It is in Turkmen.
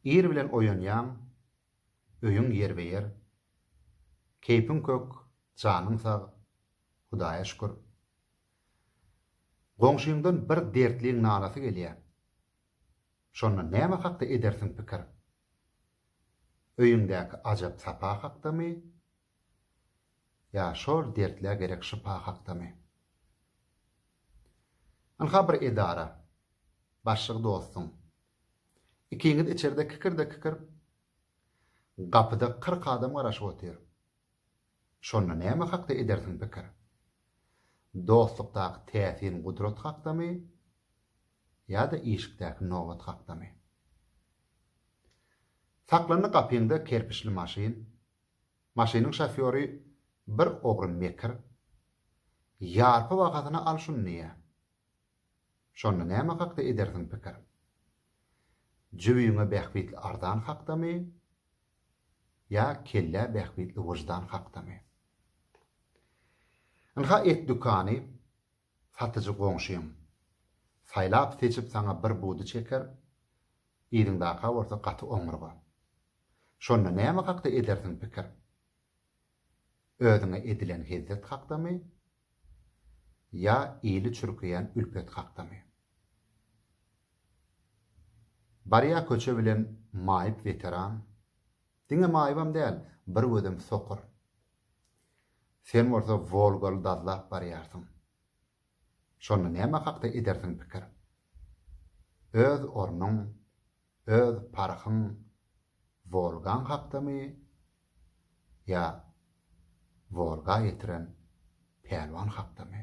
Ir bilen oýanýaň, öýüň ýerbe-ýer, keýpiň kök, janyň sag, Hudaýa şükür. Goňşyňdan bir dertliň nalasy gelýär. Şonda näme hakda edersiň pikir? Öýüňdäki ajap sapa hakdamy? Ýa şol dertlä gerek şypa hakdamy? Ynha bir edara. Başlygy dostuň. Ikiňiz içerde kikirde-kikir. Gapyda kyrk adam garaşyp otyr. Şonda näme hakda edersiň pikir? Dostlukdaky täsin gudrat hakdamy ýa-da işikdäki nobat hakdamy? Saklandy gapyňda kerpiçli maşyn. Maşynyň şofýory bir ogry mekir, Ýarpy bahasyna al şuny diýýär. Şonda näme hakda edersiň pikir? Jübiňe bähbitli arzan hakdamy ýa kellä bähbitli wyždan hakdamy? Ynha et dükany, Satyjy goňşyň. Saýlap-seçip saňa bir budy çeker, yzyňdaka bolsa gaty oňurga. Şonda näme hakda edersiň pikir? Özüňe edilen hezzet hakdamy? Ýa ili çürkeýän ülpet hakdamy? Barýa köçe bilen maýyp weteran, Diňe Maýybam däl, bir gözüm sokur. Sen bolsa Wolgaly dazlap barýarsyň. Şonda näme hakda edersiň pikir? Öz ornuň, öz parhyň Wolgaň hakdamy ýa Wolga ýetiren pälwan hakdamy?